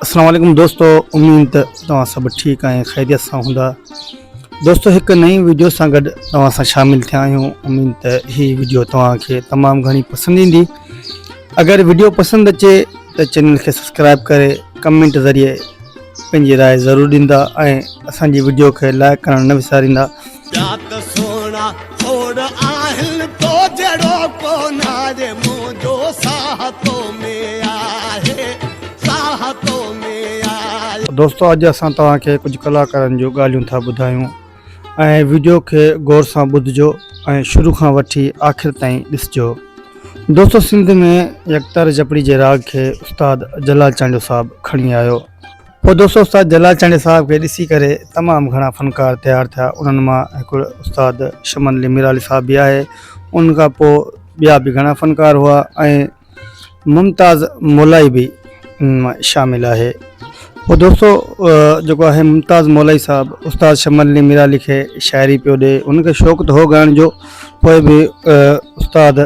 السلام عليڪم دوستو اميد ته توهان سڀ ٺيڪ ۽ خيريت سان هوندا دوستو هڪ نئين ويڊيو سان گڏ توهان سان شامل ٿيا آهيون اميد ته هي ويڊيو توهان کي تمام گهڻي پسند ايندي اگر ويڊيو پسند اچي ته چينل کي سبسڪرائب ڪري ڪمينٽ ذريعي پنهنجي راء ضرور ڏيندا ۽ اسان جي ويڊيو کي لائق ڪرڻ نه وساريندا ٻيا ته سهڻا ڇوڙ آهن تو جهڙو ڪو ناهي منهنجو ساهه تو ۾ آهي ساهه تو ۾ آهي. دوستو اڄ اسان توهان کي ڪجهه ڪلاڪارن جون ڳالهيون ٿا ٻڌايون ۽ وڊيو کي غور سان ٻڌجو ۽ شروع کان وٺي آخر تائين ڏسجو دوستو سنڌ ۾ يڪتار جپڙي جي راڳ کي استاد جلال چانڊيو صاحب کڻي آيو پوء دوست استاد جلال چانڊيو صاحب کي ڏسي ڪري تمام گهڻا فنڪار تيار ٿيا انهن مان هڪڙو استاد شمن علي ميرعالي صاحب به آهي انهن کان پوء ٻيا به گهڻا فنڪار هئا ۽ ممتاز مولائي به انهن مان شامل آهي پوء دوستو جيڪو آهي ممتاز مولائي صاحب استاد شمن علي ميرعالي کي شاعري پيو ڏي انهن کي شوق ته هو ڳائڻ جو پوء به استاد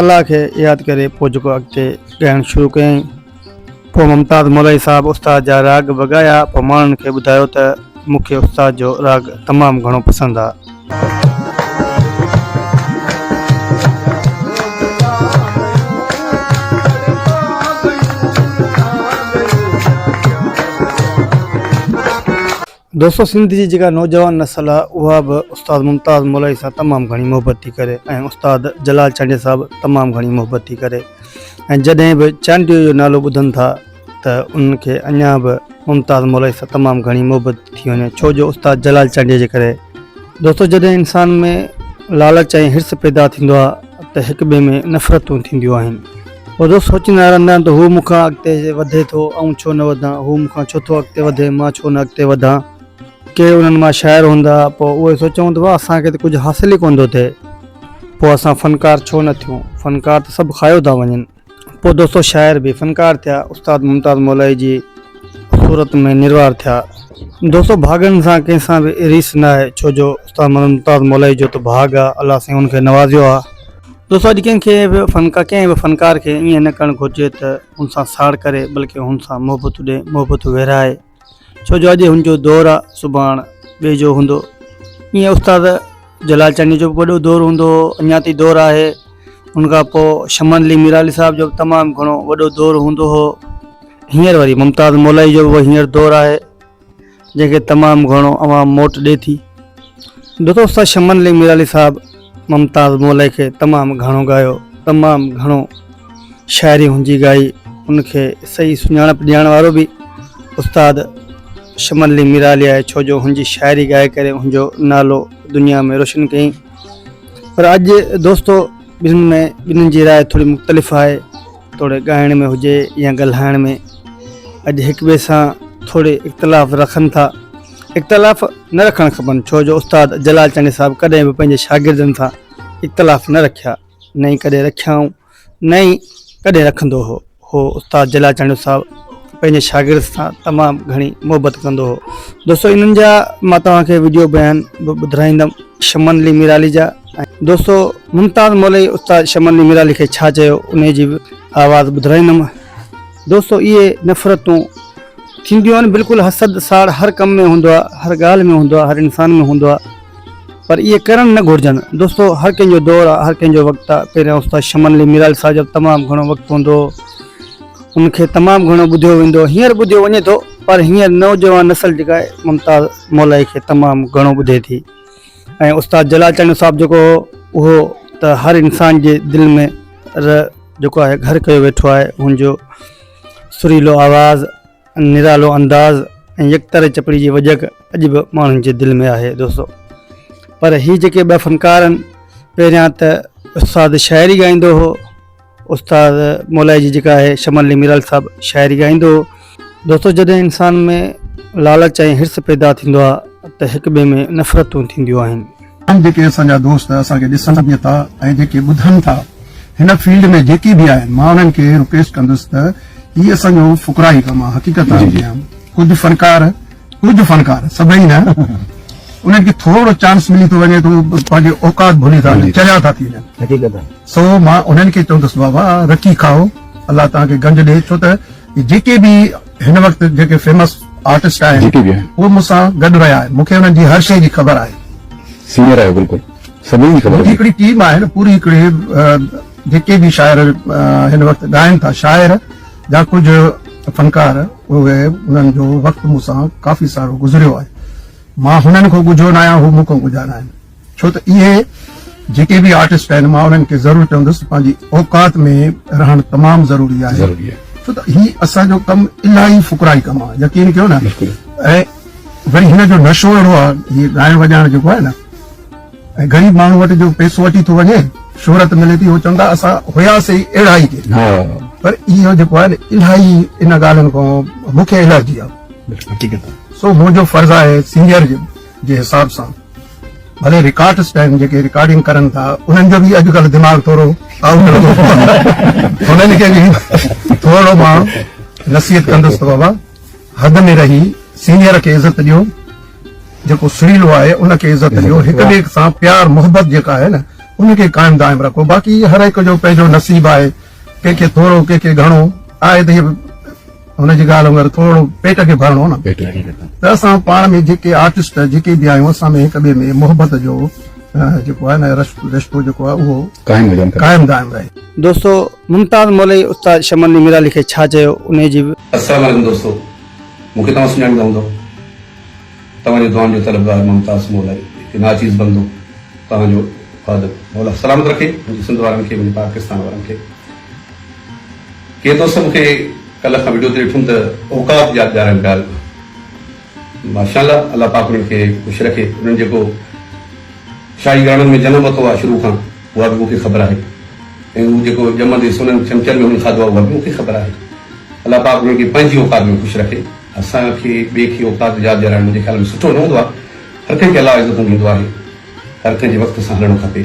الله کي ياد ڪري پوء جهڪ اڳتي ڳائڻ شروع ڪيائين. پوء ممتاز مولائي صاحب استاد جا راڳ به ڳايا. پوء ماڻهن کي ٻڌايو ته مون کي استاد جو راڳ تمام گهڻو پسند آ. دوستو سنڌ جي جيڪا نوجوان نسل آ اها به استاد ممتاز مولائي سان تمام گهڻي محبت ٿي ڪري ۽ استاد جلال چانڊيو سان به تمام گهڻي محبت ٿي ڪري ۽ جڏهن به چانڊيو جو نالو ٻڌن ٿا ته انهن کي اڃا به ممتاز مولائي سان تمام گهڻي محبت ٿي وڃي ڇو جو استاد جلال چانڊيو جي ڪري دوستو جڏهن انسان ۾ لالچ ۽ حرص پيدا ٿيندو آ ته هڪ ٻئي ۾ نفرتون ٿينديون آهن. روز سوچيندا رهندا آهن ته هو مون کان اڳتي وڌي ٿو، آئون ڇو نه وڌان، هو مون کان ڇو ٿو اڳتي وڌي، مان ڇو نه اڳتي وڌان. ڪي انهن مان شاعر هوندا، پوء اهي سوچيون ته واهه اسان کي ته ڪجهه حاصل ئي ڪونه ٿو ٿئي، پوء اسان فنڪار ڇو نه ٿيون، فنڪار ته سڀ کايو ٿا وڃن. پوء دوستو شاعر به فنڪار ٿيا، استاد ممتاز مولائي جي صورت ۾ نروار ٿيا. دوستو ڀاڳن سان ڪنهن سان به ريس ناهي، ڇو جو استاد ممتاز مولائي جو ته ڀاڳ آ، الله سائين هن کي نوازيو آ. دوستو اڄ ڪنهن کي به فنڪار ڪنهن به فنڪار کي ائين نه ڪرڻ گهرجي ته هن سان ساڙ ڪري بلڪه هن سان محبت ڏي محبت ورهائي ڇو جو اڄ هن جو دور آ سڀاڻ ٻئي جو هوندو ائين استاد جلال چانڊيو جو به وڏو دور هوندو هو اڃا تائين دور آهي ان کان پوء شمن علي ميرالي صاحب جو به تمام گهڻو وڏو دور هوندو هو هينئر وري ممتاز مولائي جو به هينئر دور آهي جنهن کي تمام گهڻو عوام موٽ ڏي ٿي. دوست شمن علي ميرعلي صاحب ممتاز مولئي کي تمام گهڻو ڳايو، تمام گهڻو شاعري هنجي ڳائي، ان کي صحيح سڃاڻپ ڏيارڻ وارو به استاد شمن علي ميرعلي آهي ڇو جو هنجي شاعري ڳائي ڪري هنجو نالو دنيا ۾ روشن ڪيائين پر اڄ دوستو ٻنهين ۾ ٻنهين جي راء ٿوري مختلف آهي. توڙي ڳائڻ ۾ هجي يا ڳالهائڻ ۾ اڄ هڪ ٻئي سان ٿوري اختلاف رکن ٿا. اختلاف نه رکڻ کپن ڇو جو استاد جلال چانڊيو صاحب ڪڏهن به پنهنجي شاگردن سان اختلاف نه رکيا نه ئي ڪڏهن رکيائون نه ئي ڪڏهن رکندو هو. هو استاد جلال چانڊيو صاحب پنهنجي شاگرد سان تمام گهڻي محبت ڪندو هو. دوستو انهن جا مان توهان کي وڊيو بيان به ٻڌرائيندم شمن علي ميرالي جا. دوستو ممتاز مولوي استاد شمن علي ميرالي کي ڇا چيو انهي جي آواز ٻڌرائيندم دوستو اهي نفرتون ٿينديون آهن بلڪل حسد ساڙ هر ڪم ۾ هوندو آهي هر ڳالهه ۾ هوندو آهي هر انسان ۾ هوندو آهي پر اهي ڪرڻ نه گهرجن دوستو هر ڪنهن جو دور آهي هر ڪنهن جو وقت آهي پهريان استاد شمن علي ميرالي صاحب جو تمام گهڻو وقت هوندو ان کي تمام گهڻو ٻڌيو ويندو هينئر ٻڌيو وڃي ٿو پر هينئر نوجوان نسل جيڪا آهي ممتاز مولوي کي تمام گهڻو ٻڌي ٿي ۽ استاد جلال چانڊيو صاحب جيڪو هو اهو ته هر انسان جي دل ۾ ر جيڪو آهي گهر ڪيو ويٺو آهي هن جو سريلو آواز نرالو انداز ۽ يڪطرح چپڙي جي وڄڪ اڄ به ماڻهن جي دل ۾ آهي دوستو پر هي جيڪي ٻه فنڪار آهن پهريان ته استاد شاعري ڳائيندو هو استاد مولائي جي جيڪا آهي شمن علي ميرال صاحب شاعري ڳائيندو هو دوستو جڏهن انسان ۾ لالچ ۽ حرص پيدا ٿيندو آهي ته هڪ ٻئي ۾ نفرتون ٿينديون آهن. تمام جيڪي اسان جا دوست اسان کي ڏسن به ٿا ۽ جيڪي ٻڌن ٿا هن فيلڊ ۾ جيڪي به آهن مان انهن کي رڪويسٽ ڪندس ته هي اسان جو فقراهي ڪم آهي حقيقت آهي جيئن ڪجهه فنڪار ڪجهه فنڪار سڀئي نه انهن کي ٿورڙو چانس ملي ٿو وڃي ته پنهنجي اوقات ڀلي ٿا وڃن چريا ٿا ٿي وڃن سو مان انهن کي چوندس بابا رکي کائو الله توهان کي گنج ڏي ڇو ته جيڪي به هن وقت جيڪي فيمس آرٽسٽ آهن اهو مون سان گڏ رهيا آهن مون کي انهن جي هر شي جي خبر آهي سينئر آهي بلڪل سڀني جي خبر هڪڙي ٽيم آهي نه پوري هڪڙي جيڪي به شاعر هن وقت ڳائن ٿا شاعر جا ڪجهه فنڪار پوء انهن جو وقت مون سان ڪافي سارو گذريو آهي. مان هنن کان ڳجهو نه آهيان، هو مون کان ڳجها نه آهن. ڇو ته اهي جيڪي به آرٽسٽ آهن، مان انهن کي ضرور چوندس ته پنهنجي اوقات ۾ رهڻ تمام ضروري آهي. ڇو ته هي اسان جو ڪم الاهي فقرائي ڪم آهي. يقين ڪيو نه. ۽ وري هن جو نشو اهڙو آهي، هي ڳائڻ وڄائڻ جيڪو آهي نه. ۽ غريب ماڻهو وٽ جو پيسو اٽي ٿو وڃي شهرت ملي ٿي هو چون ٿا اسان هياسي ئي اهڙا ئي ڪي پر اهو جيڪو آهي نه الاهي ان ڳالهين کان مون کي الرجي آهي سو منهنجو فرض آهي سينئر جي حساب سان ڀلي رڪارڊ سٽائن جيڪي رڪارڊنگ ڪرن ٿا انهن جو به اڄڪلهه دماغ ٿورو انهن کي به ٿورو مان نصيحت ڪندس ته بابا حد ۾ رهي سينئر کي عزت ڏيو جيڪو سريلو آهي ان کي عزت ڏيو هڪ ٻئي سان پيار محبت جيڪا آهي نه ان کي قائم دائم رکو باقي هر هڪ جو پنهنجو نصيب آهي ڪنهن کي ٿورو ڪنهن کي گهڻو آهي ته هن جي ڳالهه وانگر ٿورو پيٽ کي ڀرڻو نه ته اسان پاڻ ۾ جيڪي آرٽسٽ جيڪي به آهيون اسان ۾ هڪ ٻئي ۾ محبت جو جيڪو آهي نه رشتو جيڪو آهي اهو قائم دائم رهي دوستو ممتاز مولوي استاد شمن ني ميرعلي کي ڇا چيو انهي جي به. السلام عليڪم دوستو مون کي توهان سڃاڻيندا هوندؤ توهان جي دعائن جو طلبگار ممتاز مولائي هڪ ناچيز بندو توهان جو خادم مولا سلامت رکي منهنجي سنڌ وارن کي منهنجي پاڪستان وارن کي ڪي دوست مون کي ڪلهه کان وڊيو تي ڏٺم ته اوقات ياد ڏيارائن پيا ماشاء الله الله پاڪ انهن کي خوش رکي انهن جيڪو شاهي گهراڻن ۾ جنم ورتو آهي شروع کان اها به مون کي خبر آهي ۽ هو جيڪو ڄمندي سونن چمچن ۾ هن کاڌو آهي اها به مون کي خبر آهي. الله پاڪ هن کي پنهنجي اوقات ۾ خوش رکي. اسان کي ٻئي کي اوقات ياد ڏيارائڻ منهنجي خيال ۾ سٺو نه هوندو آهي. هر ڪنهن کي الله عزتون ڏيندو آهي. هر ڪنهن جي وقت سان هلڻو کپي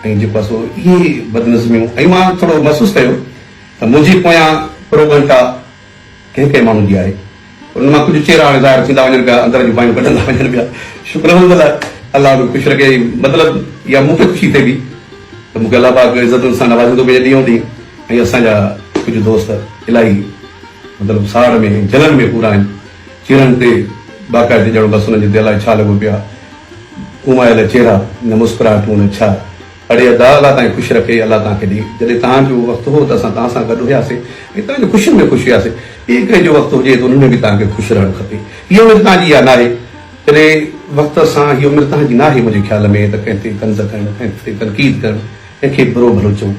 ۽ جيڪو آهي سو اهي بدنظميون ۽ مان ٿورو محسوس ڪيو ته منهنجي پويان پروڳنٽا، ڪنهن ڪنهن ماڻهو جي آهي انهن مان ڪجهه چهرا هاڻي ظاهر ٿيندا وڃن پيا اندر جون باهيون ڪڍندا وڃن پيا شڪر الحمد لله الله به خوش رکي مطلب يا مون کي خوشي ٿئي ٿي ته مون کي الله پاڪ عزتن سان نوازيندو پنهنجي ڏينهون ڏينهن ۽ اسان جا ڪجهه دوست الاهي مطلب ساڙ ۾ ۽ جلن ۾ پورا آهن چهرن تي باقاعدي ڄڻ بس انهن جي تي الاهي ڇا لڳو پيو آهي اومايل چهرا نه مسڪراهٽون نه ڇا اڙي ادا الله توهان کي خوش رکي. الله توهان کي ڏي. جڏهن توهان جو وقت هو ته اسان توهان سان گڏ هياسين ۽ توهان جي خوشين ۾ خوش هياسين. ٻئي ڪنهن جو وقت هجي ته ان ۾ به توهان کي خوش رهڻ کپي. هيء عمر توهان جي اها ناهي. جڏهن وقت سان هيء عمر توهان جي ناهي. منهنجي خيال ۾ ته ڪنهن تي طنز ڪرڻ، ڪنهن تي تنقيد ڪرڻ، ڪنهن کي برو ڀلو چوڻ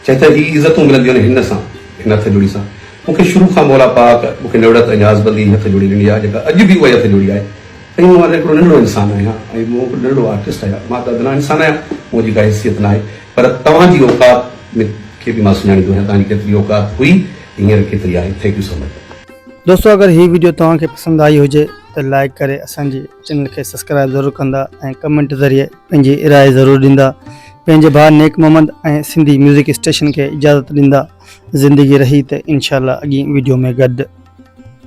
ڇا ته هي عزتون ملنديون آهن هن سان، هن هٿ جوڙي سان. مون کي شروع کان مولا پاڪ مون کي نوڙت ۽ نياز بندي جي هٿ جوڙي ڏني آهي جيڪا اڄ به اها ئي هٿ جوڙي آهي. سائين مان ته هڪڙو ننڍڙو انسان آهيان ۽ مون هڪڙو ننڍڙو آرٽسٽ آهيان مان ته ادنيٰ انسان آهيان مون جي ڪا حيثيت ناهي پر توهان جي اوقات ۾ کي به مان سڃاڻيندو آهيان توهان جي ڪيتري اوقات هئي ۽ هينئر ڪيتري آهي ٿينڪ يو سو مچ. دوستو اگر هي ويڊيو توهان کي پسند آئي هجي ته لائيڪ ڪري اسان جي چينل کي سسڪرائيب ضرور ڪندا ۽ ڪمينٽ ذريعي پنهنجي راء ضرور ڏيندا پنهنجي ڀاء نيڪ محمد ۽ سنڌي ميوزڪ اسٽيشن کي اجازت ڏيندا زندگي رهي ته انشاء الله اڳين ويڊيو ۾ گڏ